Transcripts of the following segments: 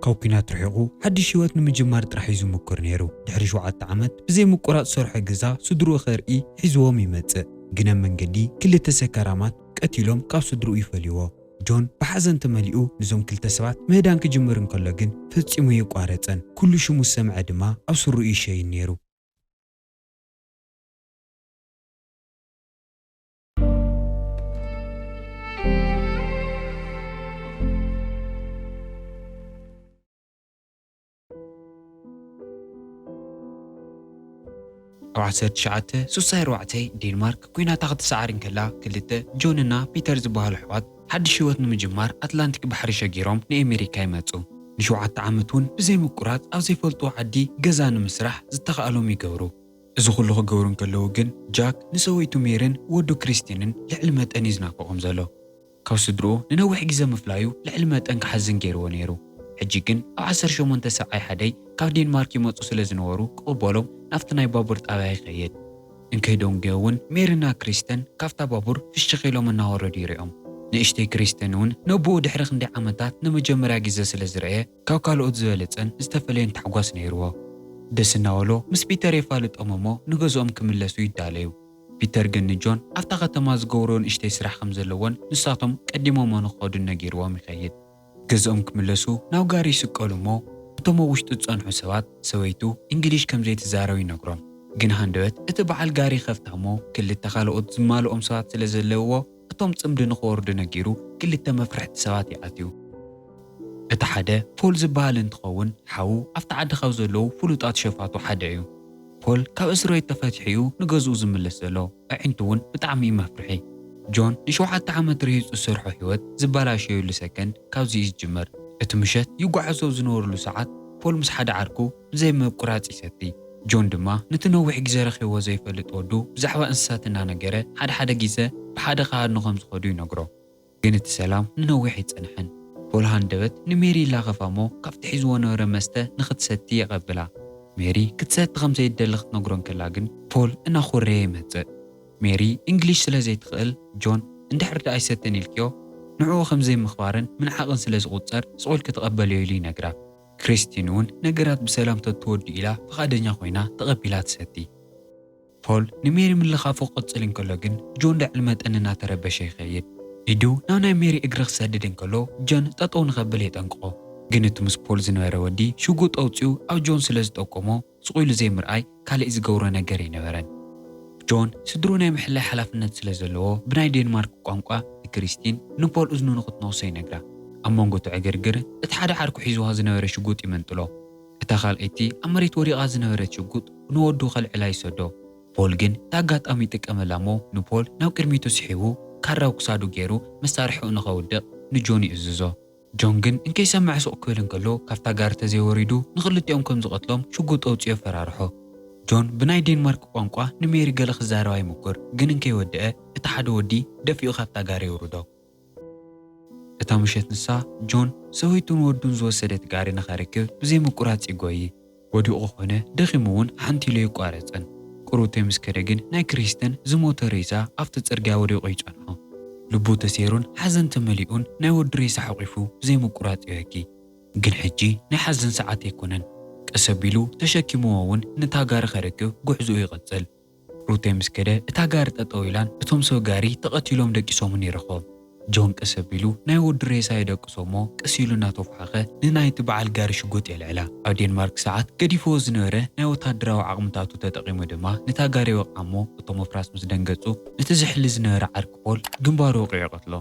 ካብ ኲናት ርሒቑ ሓድሽ ህይወት ንምጅማር ጥራሕ እዩ ዝሙኩር ነይሩ። ድሕሪ ሸውዓተ ዓመት ብዘይ ምቁራጽ ዝሰርሖ ገዛ ስድርኡ ከርኢ ሒዝዎም ይመጽእ። ግን ኣብ መንገዲ ክልተ ሰካራማት ቀቲሎም ካብ ስድርኡ ይፈልይዎ። ጆን ብሓዘን ተመሊኡ ንዞም ክልተ ሰባት ምህዳን ክጅምር እንከሎ ግን ፈጺሙ ኣየቋረጸን። ኩሉ ሽሙ ዝሰምዐ ድማ ኣብ ስርኡ እዩ ዝሸይን ነይሩ። ኣብ ዓሰርተ ትሽዓተ ስሳይ ኣርባዕተ ዴንማርክ ኲናታ ክትሰዓር እንከላ ክልተ ጆን እና ፒተር ዝበሃሉ ኣሕዋት ሓድሽ ህይወት ንምጅማር ኣትላንቲክ ባሕሪ ሸጊሮም ንኤሜሪካ ይመጹ። ንሸውዓተ ዓመት እውን ብዘይ ምቁራጽ ኣብ ዘይፈልጥዎ ዓዲ ገዛ ንምስራሕ ዝተኻእሎም ይገብሩ። እዚ ዅሉ ኺገብሩ እንከለዉ ግን፣ ጃክ ንሰበይቱ ሜሪን ወዱ ክሪስቲንን ልዕሊ መጠን እዩ ዝናፍቖም ዘሎ። ካብ ስድርኡ ንነዊሕ ግዜ ምፍላዩ ልዕሊ መጠን ኪሓዝን ገይርዎ ነይሩ። ሕጂ ግን ኣብ ዓሰርተ ሸሞንተ ሰብዓይ ሓደይ ካብ ዴንማርክ ይመጹ ስለ ዝነበሩ ኪቕበሎም ናብቲ ናይ ባቡር ጣብያ ይኸይድ። እንከይደንጐዮ እውን ሜሪና ክሪስቲን ካብታ ባቡር ፍሽኽ ኢሎም እናወረዱ ይርእዮም። ንእሽተይ ክሪስቲን እውን ነቦኡ ድሕሪ ክንደይ ዓመታት ንመጀመርያ ግዜ ስለ ዝረኣየ ካብ ካልኦት ዝበለጸን ዝተፈለየን ታሕጓስ ነይርዎ። ደስ እናበሎ ምስ ፒተር የፋልጦም እሞ ንገዝኦም ክምለሱ ይዳለዩ። ፒተር ግን ንጆን ኣብታ ከተማ ዝገብርኦ ንእሽተይ ስራሕ ከም ዘለዎን ንሳቶም ቀዲሞሞ ንክኸዱን ነጊርዎም ይኸይድ። ገዝኦም ክምለሱ ናብ ጋሪ ይስቀሉ እሞ እቶም ኣብ ውሽጢ ዝጸንሑ ሰባት ሰበይቱ እንግሊሽ ከም ዘይትዛረብ ይነግሮም። ግን ሃንደበት እቲ በዓል ጋሪ ይኸፍታ እሞ ክልተ ካልኦት ዝማልኦም ሰባት ስለ ዘለውዎ፣ እቶም ጽምዲ ንኽወርዱ ነጊሩ ክልተ መፍርሕቲ ሰባት እዩ ኣትዩ። እቲ ሓደ ፖል ዝበሃል እንትኸውን ሓዉ ኣብቲ ዓዲ ካብ ዘለዉ ፍሉጣት ሸፋቱ ሓደ እዩ። ፖል ካብ እስርቤት ተፈቲሑ እዩ ንገዝኡ ዝምለስ ዘሎ፣ ኣዒንቱ እውን ብጣዕሚ እዩ መፍርሒ። ጆን ንሸውዓተ ዓመት ርሂጹ ዝሰርሖ ህይወት ዝበላሸዩሉ ሰከንድ ካብዚ እዩ ዝጅምር። እቲ ምሸት ይጓዓዙ ኣብ ዝነበሩሉ ሰዓት ፖል ምስ ሓደ ዓርኩ፣ ብዘይ ምቁራጽ ይሰቲ። ጆን ድማ ነቲ ነዊሕ ግዜ ረኺብዎ ዘይፈልጥ ወዱ ብዛዕባ እንስሳት እናነገረ ሓደ ሓደ ግዘ ብሓደ ክሃድኑ ከም ዝኸዱ ይነግሮ። ግን እቲ ሰላም ንነዊሕ ኣይጸንሐን። ፖል ሃንደበት ንሜሪ ይላኸፋ'ሞ ካብቲ ሒዝዎ ዝነበረ መስተ ንኽትሰቲ የቐብላ። ሜሪ ክትሰቲ ከም ዘይትደሊ ክትነግሮ እንከላ ግን ፖል እናኾረየ ይመጽእ። ሜሪ እንግሊሽ ስለ ዘይትኽእል ጆን እንድሕር ድኣ ኣይሰትን ኢልክዮ ንዕኡ ከም ዘይምኽባርን ምንዓቕን ስለ ዝቑጸር ስቕ ኢልኪ ተቐበልዮ ኢሉ ይነግራ። ክሪስቲን እውን ነገራት ብሰላም ተትወድኡ ኢላ ፍቓደኛ ኰይና ተቐቢላ ትሰቲ። ፖል ንሜሪ ምልኻፉ ክቕጽል እንከሎ ግን ጆን ልዕሊ መጠን እናተረበሸ ይኸይድ። ኢዱ ናብ ናይ ሜሪ እግሪ ክሰድድ እንከሎ ጆን ጠጠው ንኸብል የጠንቅቖ። ግን እቲ ምስ ፖል ዝነበረ ወዲ ሽጉጥ ኣውጺኡ ኣብ ጆን ስለ ዝጠቆሞ፣ ስቕ ኢሉ ዘይምርኣይ ካልእ ዝገብሮ ነገር ኣይነበረን። ጆን፣ ስድርኡ ናይ ምሕላይ ሓላፍነት ስለ ዘለዎ፣ ብናይ ዴንማርክ ቋንቋ ንክሪስቲን ንፖል እዝኑ ንኽትነኽሶ ይነግራ። ኣብ መንጎ እቲ ዕግርግር፣ እቲ ሓደ ዓርኩ ሒዝዋ ዝነበረ ሽጉጥ ይመንጥሎ። እታ ካልኣይቲ ኣብ መሬት ወዲቓ ዝነበረት ሽጉጥ ንወዱ ከልዕላ ይሰዶ። ፖል ግን እቲ ኣጋጣሚ ይጥቀመላ እሞ ንፖል ናብ ቅድሚቱ ስሒቡ ካራ ኣብ ክሳዱ ገይሩ መሳርሒኡ ንኸውድቕ ንጆን ይእዝዞ። ጆን ግን እንከይሰምዐ ሱቕ ክብል እንከሎ ካብታ ጋሪ ተዘይወሪዱ ንኽልቲኦም ከም ዝቐትሎም ሽጉጥ ኣውጺኡ ኣፈራርሖ። ጆን ብናይ ዴንማርክ ቋንቋ ንሜሪ ገለ ክዛረባ ይሙኩር ግን እንከይወደኣ እቲ ሓደ ወዲ ደፊኡ ካብታ ጋሪ የውርዶ። እታ ምሸት ንሳ፣ ጆን፣ ሰበይቱን ወዱን ዝወሰደት ጋሪ ንኸርክብ ብዘይምቁራጽ ይጎዪ። ወዲቑ ኮነ ደኺሙ እውን ሓንቲ ኢሉ ኣይቋረጸን። ቅሩብተይ ምስ ከደ ግን ናይ ክሪስተን ዝሞተ ሬሳ ኣብቲ ጽርግያ ወዲቑ ይጸንሖ። ልቡ ተሰይሩን ሓዘን ተመሊኡን ናይ ወዱ ሬሳ ሓቚፉ ብዘይ ምቁራጽ ይበኪ። ግን ሕጂ ናይ ሓዘን ሰዓት ኣይኮነን። ቀስ ኣቢሉ ተሸኪምዎ እውን ነታ ጋሪ ከርክብ ጉዕዞኡ ይቕጽል። ሩቴ ምስ ከደ እታ ጋሪ ጠጠው ኢላን እቶም ሰብ ጋሪ ተቐቲሎም ደቂሶምን ይረኸቦም። ጆን ቀስ ኣቢሉ ናይ ወዱ ሬሳ ይደቅሶ እሞ ቀስ ኢሉ እናተዃሓኸ ንናይቲ በዓል ጋሪ ሽጉጥ የልዕላ። ኣብ ዴንማርክ ሰዓት ገዲፍዎ ዝነበረ ናይ ወታደራዊ ዓቕምታቱ ተጠቒሙ ድማ ነታ ጋሪ ይወቕዓ እሞ እቶም ኣፍራስ ምስ ደንገፁ ነቲ ዝሕሊ ዝነበረ ዓርኪ ፖል ግንባሩ ወቒዑ ይቐትሎ።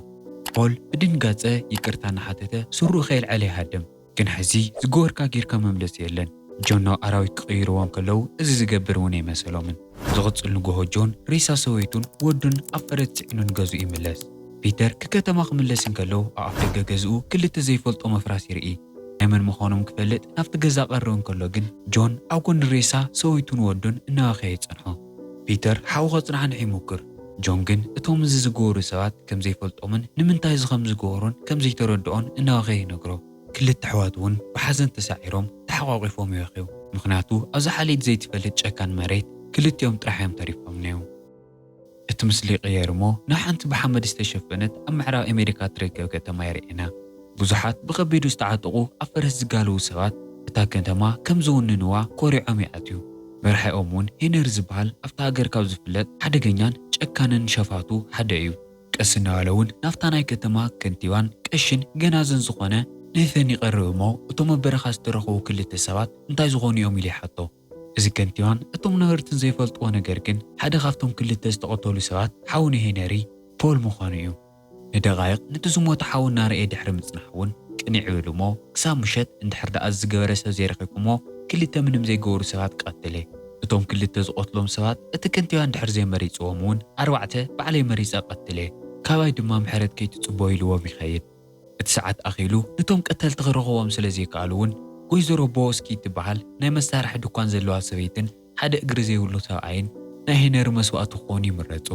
ፖል ብድንጋፀ ይቅርታ እናሓተተ ስሩኡ ከየልዐለ ይሃድም። ግን ሕዚ ዝገበርካ ጌርካ መምለሲ የለን ጆን ናብ ኣራዊት ክቅይርዎም ከለው እዚ ዝገብር እውን ኣይመሰሎምን ዝቅፅል ንጎሆ ጆን ሬሳ ሰበይቱን ወዱን ኣብ ፈረስ ፅዒኑ ንገዝኡ ይምለስ ፒተር ክከተማ ክምለስ እንከሎ ኣብ ኣፍደገ ገዝኡ ክልተ ዘይፈልጦ መፍራስ ይርኢ ናይ መን ምኳኖም ክፈልጥ ናብቲ ገዛ ቀርብ እንከሎ ግን ጆን ኣብ ጎኒ ሬሳ ሰበይቱን ወዱን እናበኸየ ይፀንሖ። ፒተር ሓው ከጽናሕንሕ ይሙክር፣ ጆን ግን እቶም እዚ ዝገበሩ ሰባት ከም ዘይፈልጦምን ንምንታይ እዚ ከም ዝገበሩን ከም ዘይተረድኦን እናበኸየ ይነግሮ። ክልተ ኣሕዋት እውን ብሓዘን ተሳዒሮም ተሓቛቒፎም ይበኽዩ፣ ምኽንያቱ ኣብዛ ሓልይት ዘይትፈልጥ ጨካን መሬት ክልቲኦም ጥራሕ እዮም ተሪፎም ነይው። እቲ ምስሊ ይቕየር እሞ ናብ ሓንቲ ብሓመድ ዝተሸፈነት ኣብ ምዕራብ ኣሜሪካ እትርከብ ከተማ የርእየና። ብዙሓት ብኸቢዱ ዝተዓጠቑ ኣብ ፈረስ ዝጋልቡ ሰባት እታ ከተማ ከም ዝውንንዋ ኮሪዖም ይኣትዩ። መራሒኦም እውን ሄነሪ ዝበሃል ኣብታ ሃገር ካብ ዝፍለጥ ሓደገኛን ጨካንን ሸፋቱ ሓደ እዩ። ቀስ እናበለ እውን ናብታ ናይ ከተማ ከንቲባን ቀሺን ገናዝን ዝኾነ ንህፈን ይቐርብ እሞ እቶም ኣብ በረኻ ዝተረኽቡ ክልተ ሰባት እንታይ ዝኾኑ እዮም ኢሉ ይሓቶ። እዚ ከንቲባን እቶም ነበርትን ዘይፈልጥዎ ነገር ግን ሓደ ካብቶም ክልተ ዝተቐተሉ ሰባት ሓው ንሄነሪ፣ ፖል ምዃኑ እዩ። ንደቓይቕ ነቲ ዝሞተ ሓዉ እናረኤ ድሕሪ ምጽናሕ ውን ቅንዕ ይብል እሞ ክሳብ ምሸት እንድሕር ደኣ እዚ ዝገበረ ሰብ ዘይረኺብኩሞ ክልተ ምንም ዘይገበሩ ሰባት ቀትለ። እቶም ክልተ ዝቐትሎም ሰባት እቲ ከንቲባ እንድሕር ዘይመሪጽዎም ውን ኣርባዕተ ባዕለይ መሪጸ ቀትለ ካባይ ድማ ምሕረት ከይትጽበዩ ኢልዎም ይኸይድ። እቲ ሰዓት ኣኺሉ ነቶም ቀተልቲ ክረኽብዎም ስለ ዘይከኣሉ ውን ጎይዘሮ ቦወስኪ እትበሃል ናይ መሳርሒ ድኳን ዘለዋ ሰበይትን፣ ሓደ እግሪ ዘይብሉ ሰብኣይን ናይ ሄነሪ መስዋእቲ ክኾኑ ይምረጹ።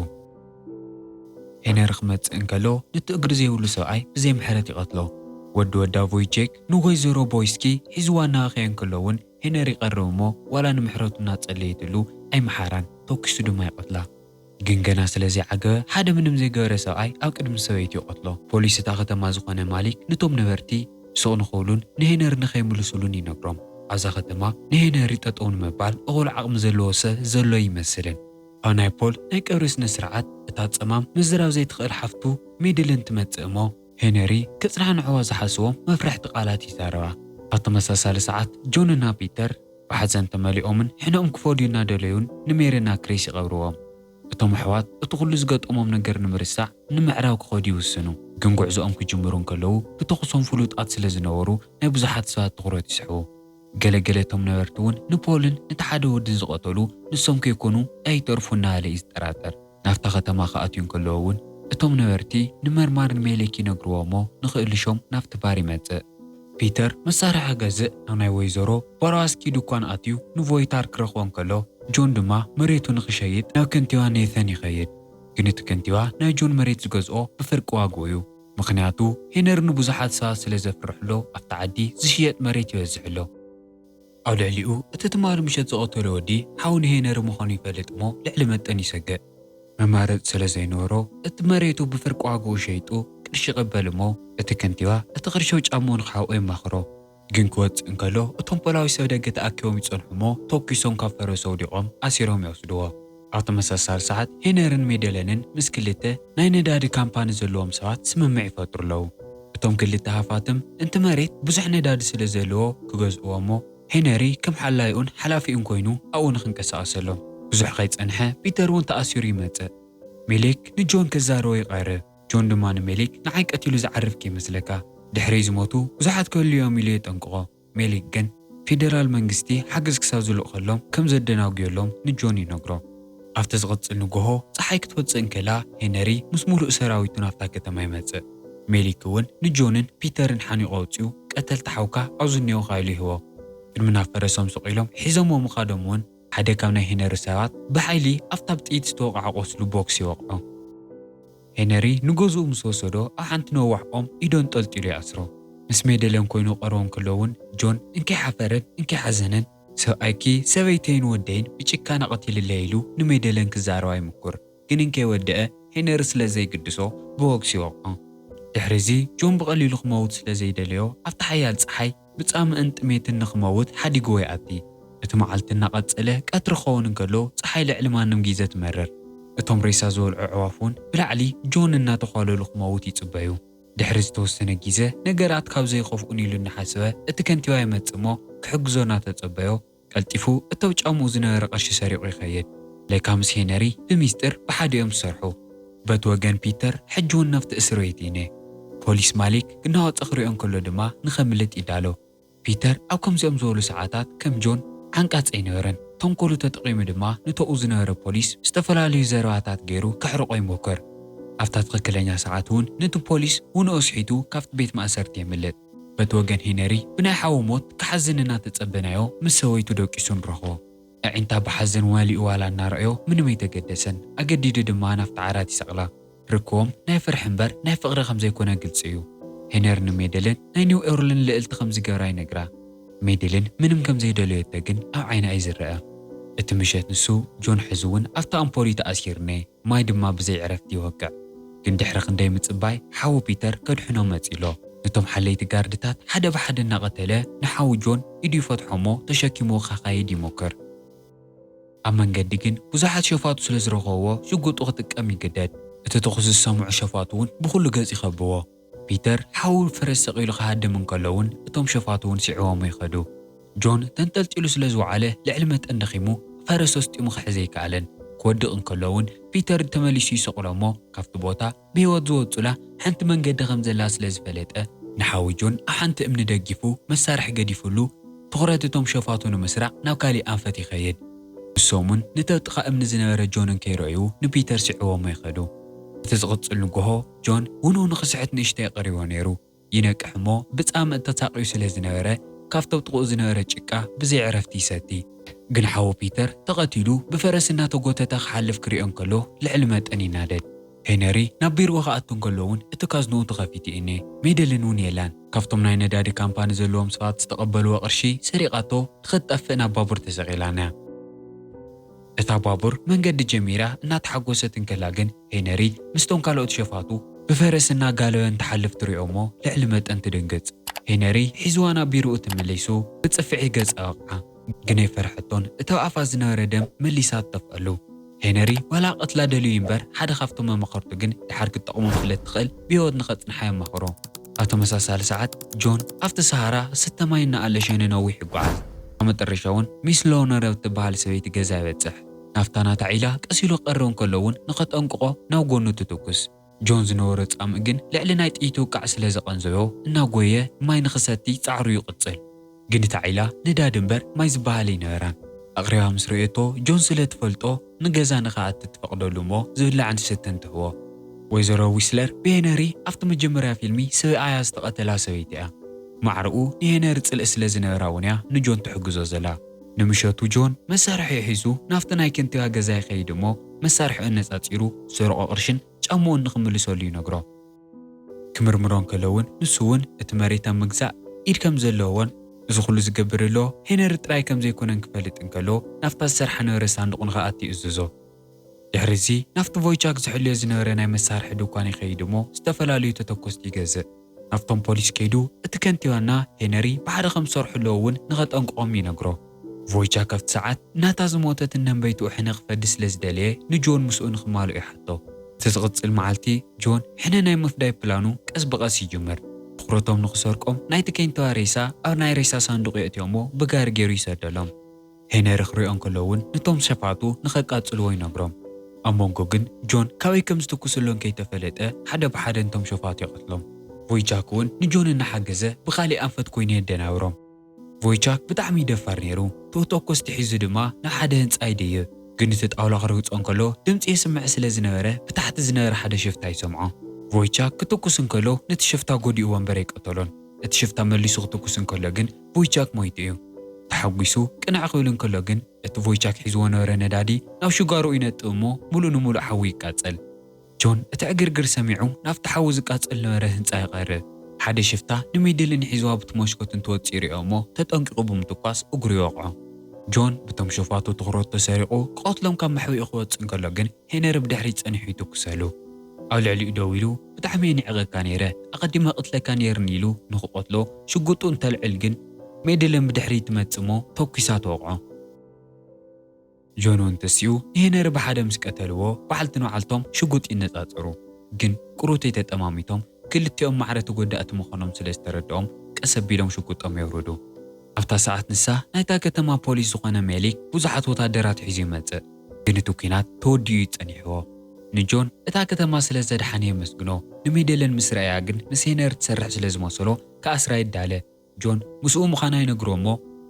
ሄነሪ ክመጽእ እንከሎ ነቲ እግሪ ዘይብሉ ሰብኣይ ብዘይ ምሕረት ይቐትሎ። ወዲ ወዳ ቮይቼክ ንወይዘሮ ቦይስኪ ሒዝዋ እናበኸየ እንከሎ'ውን ሄነሪ ይቐርብ እሞ ዋላ ንምሕረቱ እናጸለየትሉ ኣይመሓራን፣ ተኲሱ ድማ ይቐትላ። ግን ገና ስለ ዘይዓገበ ሓደ ምንም ዘይገበረ ሰብኣይ ኣብ ቅድሚ ሰበይቱ ይቐትሎ። ፖሊስ እታ ከተማ ዝኾነ ማሊክ ንቶም ነበርቲ ስቕ ንኽብሉን ንሄነሪ ንኸይምልሱሉን ይነግሮም። ኣብዛ ከተማ ንሄነሪ ጠጠው ንምባል እኹል ዓቕሚ ዘለዎ ሰብ ዘሎ ኣይመስልን። ኣብ ናይ ፖል ናይ ቀብሪ ስነ ስርዓት እታ ጸማም ምዝራብ ዘይትኽእል ሓፍቱ ሜድልን ትመጽእ እሞ፣ ሄነሪ ከጽናንዕዋ ዝሓስቦም መፍርሕቲ ቃላት ይዛረባ። ኣብ ተመሳሳሊ ሰዓት ጆን እና ፒተር። ብሓዘን ተመሊኦምን ሕነኦም ክፈድዩ እናደለዩን ንሜሪን ኣክሪስ ይቐብርዎም። እቶም ኣሕዋት እቲ ኹሉ ዝገጠሞም ነገር ንምርሳዕ ንምዕራብ ክኸዱ ይውስኑ። ግን ጉዕዞኦም ክጅምሩ እንከለዉ ብተኹሶም ፍሉጣት ስለ ዝነበሩ ናይ ብዙሓት ሰባት ትኹረት ይስሕቡ። ገለ ገለ እቶም ነበርቲ እውን ንፖልን ነቲ ሓደ ወድን ዝቐተሉ ንሶም ከይኮኑ ኣይተርፉን እናበለ እዩ ዝጠራጠር። ናብታ ከተማ ክኣትዩ እንከለዉ እውን፣ እቶም ነበርቲ ንመርማር ንሜሌክ ይነግርዎ እሞ ንክእልሾም ናብቲ ባር ይመጽእ። ፒተር መሳርሒ ክገዝእ ናብ ናይ ወይዘሮ ቫሮዋስኪ ድኳን ኣትዩ ንቮይታር ክረኽቦ እንከሎ፣ ጆን ድማ መሬቱ ንክሸይጥ ናብ ከንቲባ ኔይተን ይኸይድ። ግን እቲ ከንቲባ ናይ ጆን መሬት ዝገዝኦ ብፍርቂ ዋግኡ እዩ። ምኽንያቱ ሄነሪ ንብዙሓት ሰባት ስለ ዘፍርሕ'ሎ ኣብቲ ዓዲ ዝሽየጥ መሬት ይበዝሕ'ሎ። ኣብ ልዕሊኡ እቲ ትማሊ ምሸት ዝቐተሎ ወዲ ሓው ንሄነሪ ምዃኑ ይፈልጥ እሞ ልዕሊ መጠን ይሰግእ። መማረፂ ስለ ዘይነበሮ እቲ መሬቱ ብፍርቂ ዋግኡ ሸይጡ ቅርሺ ይቕበል እሞ እቲ ከንቲባ እቲ ቅርሺ ኣብ ጫምኡ ንክሓብኦ የማኽሮ። ግን ክወፅእ እንከሎ እቶም ፖላዊስ ኣብ ደገ ተኣኪቦም ይፀንሑ እሞ ተኩሶም ካብ ፈረሱ ኣውዲቖም ኣሲሮም ይወስድዎ። ኣብ ተመሳሳሊ ሰዓት ሄነርን ሜደለንን ምስ ክልተ ናይ ነዳዲ ካምፓኒ ዘለዎም ሰባት ስምምዕ ይፈጥሩ ኣለዉ። እቶም ክልተ ሃፋትም እቲ መሬት ብዙሕ ነዳዲ ስለ ዘለዎ ክገዝእዎ እሞ ሄነሪ ከም ሓላይኡን ሓላፊኡን ኮይኑ ኣብኡ ንኽንቀሳቐሰሎም። ብዙሕ ከይጸንሐ ፒተር እውን ተኣሲሩ ይመጽእ። ሜሊክ ንጆን ከዛርቦ ይቐርብ። ጆን ድማ ንሜሊክ ንዓይ ቀቲሉ ዝዓርፍ ከይመስለካ። ድሕረይ ዝሞቱ ብዙሓት ክህልዉ እዮም ኢሉ የጠንቅቖ። ሜሊክ ግን ፌደራል መንግስቲ ሓገዝ ክሳብ ዝልእኸሎም ከም ዘደናጉዮሎም ንጆን ይነግሮ። ኣብቲ ዝቕጽል ንግሆ ጸሓይ ክትወጽእ እንከላ ሄነሪ ምስ ምሉእ ሰራዊቱ ናብታ ከተማ ይመጽእ። ሜሊክ እውን ንጆንን ፒተርን ሓኒቑ ኣውጺኡ ቀተልቲ ሓውካ ኣብዚ እኔውኻ ኢሉ ይህቦም። ቅድሚ ናብ ፈረሶም ስቕ ኢሎም ሒዞምዎ ምኻዶም እውን፣ ሓደ ካብ ናይ ሄነሪ ሰባት ብሓይሊ ኣብታ ብጥይት ዝተወቕዓ ቁስሉ ቦክስ ይወቕዖ። ሄነሪ ንገዝኡ ምስ ወሰዶ ኣብ ሓንቲ ነዋሕ ኦም ኢዱ ኣንጠልጢሉ ይኣስሮ። ምስ ሜደሌን ኮይኑ ክቐርቦ እንከሎ እውን ጆን እንኪ ሓፈረን እንኪ ሓዘነን ሰብኣይኪ ሰበይተይን ወደይን ብጭካነ ቀቲልለይ ኢሉ ንሜደሌን ክዛረባ ይምኩር ግን እንከይወደኣ ሄነሪ ስለ ዘይግድሶ ብቦክስ ይወቕዖ። ድሕሪዚ ጆን ብቐሊሉ ክመውት ስለ ዘይደለዮ ኣብታ ሓያል ጸሓይ ብጻምእን ጥሜትን ንኽመውት ሓዲግዎ ይኣቲ። እቲ መዓልቲ እናቐጸለ ቀትሪ ክኸውን እንከሎ ጸሓይ ልዕሊ ማንም ጊዘ ትመርር። እቶም ሬሳ ዝበልዑ ኣዕዋፍ እውን ብላዕሊ ጆን እናተዃለሉ ክመውት ይጽበዩ። ድሕሪ ዝተወሰነ ጊዘ ነገራት ካብ ዘይኸፍኡ ንኢሉ እናሓሰበ እቲ ከንቲባ ይመጽእ እሞ ክሕግዞ እናተጸበዮ፣ ቀልጢፉ እቲ ኣብ ጫምኡ ዝነበረ ቅርሺ ሰሪቑ ይኸይድ። ለካ ምስ ሄነሪ ብሚስጢር ብሓደ'ዮም ዝሰርሑ። በቲ ወገን ፒተር ሕጂ'ውን ናብቲ እስርቤት ይነ። ፖሊስ ማሊክ ክናወጽ ክሪኦ እንከሎ ድማ ንኸምልጥ ይዳሎ። ፒተር ኣብ ከምዚኦም ዝበሉ ሰዓታት ከም ጆን ዓንቃጺ ኣይነበረን። ተንኮሉ ተጠቒሙ ድማ ንቶኡ ዝነበረ ፖሊስ ብዝተፈላለዩ ዘረባታት ገይሩ ከሕርቖ ይሞክር። ኣብታ ትኽክለኛ ሰዓት'ውን ነቲ ፖሊስ ውንኡ ስሒቱ ካብቲ ቤት ማእሰርቲ የምልጥ። በቲ ወገን ሄነሪ ብናይ ሓዉ ሞት ክሓዝን እናተጸበናዮ ምስ ሰበይቱ ደቂሱ ንረኽቦ። ኣዒንታ ብሓዘን መሊኡ ዋላ እናረኣዮ ምንም ኣይተገደሰን። ኣገዲዱ ድማ ናብቲ ዓራት ይሰቕላ። ርክቦም ናይ ፍርሒ እምበር ናይ ፍቕሪ ከም ዘይኮነ ግልጺ እዩ። ሄነሪ ንሜድልን ናይ ኒው ኦርልን ልእልቲ ከም ዝገብራ ይነግራ። ሜድልን ምንም ከም ዘይደለዮቶ ግን ኣብ ዓይና እዩ ዝረኣ። እቲ ምሸት ንሱ ጆን ሕዚ እውን ኣብቲ ኣምፖር'ዩ ተኣሲርኔ። ማይ ድማ ብዘይ ዕረፍቲ ይወቅዕ። ግን ድሕሪ ክንደይ ምጽባይ ሓዉ ፒተር ከድሕኖ መጺኡ'ሎ። ነቶም ሓለይቲ ጋርድታት ሓደ ብሓደ እናቐተለ ንሓዉ ጆን ኢዱ ይፈትሖ'ሞ ተሸኪምዎ ከካይድ ይሞክር። ኣብ መንገዲ ግን ብዙሓት ሸፋቱ ስለ ዝረኸብዎ ሽጉጡ ክጥቀም ይግደድ። እቲ ተኹሲ ዝሰምዑ ሸፋቱ'ውን ብኹሉ ገጽ ይኸብዎ። ፒተር ሓው ፈረስ ሰቒሉ ክሃድም እንከሎ'ውን እቶም ሸፋቱ'ውን ስዒቦሞ ይኸዱ። ጆን ተንጠልጢሉ ስለ ዝወዓለ ልዕሊ መጠን ደኺሙ ፈረስ ኣስጢሙ ክሕዝ ኣይከኣለን። ክወድቕ እንከሎ'ውን ፒተር ተመሊሱ ይሰቕሎ'ሞ ካብቲ ቦታ ብህይወት ዝወጹላ ሓንቲ መንገዲ ከም ዘላ ስለ ዝፈለጠ፣ ንሓው ጆን ኣብ ሓንቲ እምኒ ደጊፉ መሳርሒ ገዲፉሉ ትኹረት እቶም ሸፋቱ ንምስራቕ ናብ ካሊእ ኣንፈት ይኸይድ። ንሶም'ውን ንቲ ኣብ ጥቓ እምኒ ዝነበረ ጆን እንከይረኣዩ ንፒተር ስዒቦሞ ይኸዱ። እቲ ዝቕጽል ንጎሆ ጆን ውንኡ ንኽስሕት ንእሽተይ ቀሪቦ ነይሩ። ይነቅሕ እሞ ብጻምእ ተሳቕዩ ስለ ዝነበረ ካብቲ ኣብ ጥቕኡ ዝነበረ ጭቃ ብዘይ ዕረፍቲ ይሰቲ። ግን ሓዉ ፒተር ተቐቲሉ ብፈረስ እናተጎተተ ክሓልፍ ክሪኦ እንከሎ ልዕሊ መጠን ይናደድ። ሄነሪ ናብ ቢርኡ ክኣቱ እንከሎ እውን እቲ ካዝንኡ ተኸፊቱ ኢኔ። ሜደልን እውን የላን። ካብቶም ናይ ነዳዲ ካምፓኒ ዘለዎም ሰባት ዝተቐበልዎ ቅርሺ ሰሪቓቶ ንኽትጠፍእ ናብ ባቡር ተሰቒላን እያ። እታ ባቡር መንገዲ ጀሚራ እናተሓጎሰት እንከላ ግን ሄነሪ ምስቶም ካልኦት ሸፋቱ ብፈረስ እናጋለበ እንትሓልፍ ትሪኦ'ሞ ልዕሊ መጠን ትድንግጽ። ሄነሪ ሒዝዋ ናብ ቢሮኡ ትምሊሱ ብጽፍዒ ገጻ ወቕዓ። ግን ኣይፈርሐቶን እቲ ኣብ ኣፋ ዝነበረ ደም መሊሳ ትተፍኣሉ። ሄነሪ ዋላ ክቐትላ ደልዩ ይንበር ሓደ ካብቶም መማኸርቱ ግን ድሓር ክትጠቕሞም ስለ እትኽእል ብህይወት ንኸጽንሓ የማኽሮ። ኣብ ተመሳሳሊ ሰዓት ጆን ኣብቲ ሰሃራ ዝስተ ማይ እናኣለሸ ንነዊሕ ይጓዓዝ። ኣብ መጠረሻ'ውን ሚስ ሎውነር ኣብ እትበሃል ሰበይቲ ገዛ ይበጽሕ። ናፍታ ናታ ዒላ ቀስ ኢሉ ክቐርብ እንከሎ እውን ንኸጠንቅቖ ናብ ጎኑ ትትኩስ። ጆን ዝነበሮ ጻምእ ግን ልዕሊ ናይ ጥይት ውቃዕ ስለ ዘቐንዘዮ እናጎየ ማይ ንኽሰቲ ጻዕሩ ይቕጽል። ግን እታ ዒላ ነዳዲ እምበር ማይ ዝበሃል ኣይነበራን። ኣቕሪባ ምስ ረእየቶ ጆን ስለ ትፈልጦ ንገዛ ንኽኣቲ ትፈቕደሉ እሞ ዝብላዕን ዝስተን ትህቦ። ወይዘሮ ዊስለር ብሄነሪ ኣብቲ መጀመርያ ፊልሚ ስብኣያ ዝተቐተላ ሰበይቲ እያ። ማዕረኡ ንሄነሪ ጽልኢ ስለ ዝነበራ እውን እያ ንጆን ትሕግዞ ዘላ። ንምሸቱ ጆን መሳርሒኡ ሒዙ ናብቲ ናይ ኬንቲካ ገዛ ይኸይድ እሞ መሳርሒኡ ኣነጻጺሩ ዝሰረቖ ቅርሽን ጫምኡን ንኽምልሰሉ ይነግሮ። ክምርምሮ እንከሎ እውን ንሱ እውን እቲ መሬት ኣብ ምግዛእ ኢድ ከም ዘለዎን እዚ ኩሉ ዝገብር ዘሎ ሄነሪ ጥራይ ከም ዘይኮነን ክፈልጥ እንከሎ ናብታ ዝሰርሓ ነበረ ሳንዱቕ ንኽኣቲ ይእዝዞ። ድሕሪ'ዚ ናብቲ ቮይቻክ ዝሕልዮ ዝነበረ ናይ መሳርሒ ድኳን ይኸይድ እሞ ዝተፈላለዩ ተተኮስቲ ይገዝእ። ናብቶም ፖሊስ ከይዱ እቲ ከንቲባና ሄነሪ ብሓደ ከም ዝሰርሑ ኣለዉ እውን ንኸጠንቅቖም ይነግሮ። ቮይቻክ ኣብቲ ሰዓት ናታ ዝሞተት እነንበይትኡ ሕነ ክፈዲ ስለ ዝደለየ ንጆን ምስኡ ንኽማልኦ ይሓቶ። እቲ ዝቕጽል መዓልቲ ጆን ሕነ ናይ ምፍዳይ ፕላኑ ቀስ ብቐስ ይጅምር። ትኹረቶም ንኽሰርቆም ናይቲ ኬንቲባ ሬሳ ኣብ ናይ ሬሳ ሳንዱቕ የእትዮ እሞ ብጋሪ ገይሩ ይሰደሎም። ሄነሪ ክሪኦ እንከሎ እውን ነቶም ሸፋቱ ንኸቃጽልዎ ይነግሮም። ኣብ መንጎ ግን ጆን ካበይ ከም ዝትኩስሉ እንከይተፈለጠ ሓደ ብሓደ ንቶም ሸፋቱ ይቐትሎም። ቮይቻክ እውን ንጆን እናሓገዘ ብኻሊእ ኣንፈት ኮይኑ የደናብሮም። ቮይቻክ ብጣዕሚ ደፋር ነይሩ። ተተኮስቲ ሒዙ ድማ ናብ ሓደ ህንጻ ይድይብ። ግን እቲ ጣውላ ክርግጾ እንከሎ ድምጺ የስምዕ ስለ ዝነበረ ብታሕቲ ዝነበረ ሓደ ሽፍታ ይሰምዖ። ቮይቻክ ክትኩስ እንከሎ ነቲ ሽፍታ ጎዲእዎ እምበር ኣይቀተሎን። እቲ ሽፍታ መሊሱ ክትኩስ እንከሎ ግን ቮይቻክ ሞይቱ እዩ። ተሓጒሱ ቅንዕ ክብል እንከሎ ግን እቲ ቮይቻክ ሒዝዎ ዝነበረ ነዳዲ ናብ ሽጓሮኡ ይነጥብ እሞ ምሉእ ንምሉእ ሓዊ ይቃጸል። ጆን እቲ ዕግርግር ሰሚዑ ናብቲ ሓዊ ዝቃጸል ዝነበረ ህንጻ ይቐርብ። ሓደ ሽፍታ ንሚድሊን ሒዝዋ ብቲ ሞሽኮት እንትወጽእ ይሪኦ እሞ ተጠንቂቑ ብምትኳስ እግሩ ይወቕዖ። ጆን ብቶም ሸፋቱ ትኹረቱ ተሰሪቑ ክቐትሎም ካብ መሕብኢኡ ክወጽእ እንከሎ ግን ሄነሪ ብድሕሪት ጸኒሑ ይትኩሰሉ። ኣብ ልዕሊኡ ደው ኢሉ። ብጣዕሚ እየ ንዕቀካ ነይረ ኣቀዲመ ክቅትለካ ነይርኒ ኢሉ ንክቀትሎ ሽጉጡ እንተልዕል ግን ሜድልን ብድሕሪት ትመጽእ እሞ ተኩሳ ትወቅዖ። ጆኖን ተሲኡ ንሄነሪ ብሓደ ምስ ቀተልዎ በዓልቲ ንበዓልቶም ሽጉጥ ይነጻጸሩ ግን ቁሩተይ ተጠማሚቶም ክልቲኦም ማዕረ ተጎዳእቲ ምኮኖም ስለ ዝተረደኦም ቀስ ኣቢሎም ሽጉጦም የውርዱ ኣብታ ሰዓት ንሳ ናይታ ከተማ ፖሊስ ዝኮነ ሜሊክ ብዙሓት ወታደራት ሒዙ ይመጽእ ግን እቲ ኲናት ተወዲኡ እዩ ጸኒሕዎ። ንጆን እታ ከተማ ስለ ዘድሓነ የመስግኖ፣ ንሜደለን ምስ ረኣያ ግን ምስ ሄነሪ ትሰርሕ ስለ ዝመሰሎ ክኣስራ ይዳለ። ጆን ምስኡ ምዃና ይነግሮ እሞ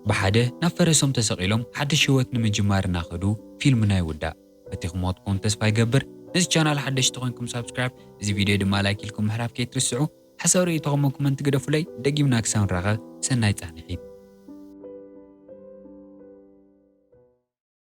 ብሓደ ናብ ፈረሶም ተሰቒሎም ሓድሽ ህይወት ንምጅማር እናኸዱ ፊልምና ይውዳእ። ፈቲኹምዎ ትኾኑ ተስፋ ይገብር። ነዚ ቻናል ሓደሽቲ ኮንኩም ሳብስክራይብ እዚ ቪድዮ ድማ ላይክ ኢልኩም ምሕራፍ ከይትርስዑ። ሓሳብ ርእይቶኹም ብ ኮመንት ግደፉለይ። ደጊምና ክሳብ ንራኸብ ሰናይ ጻንሒት።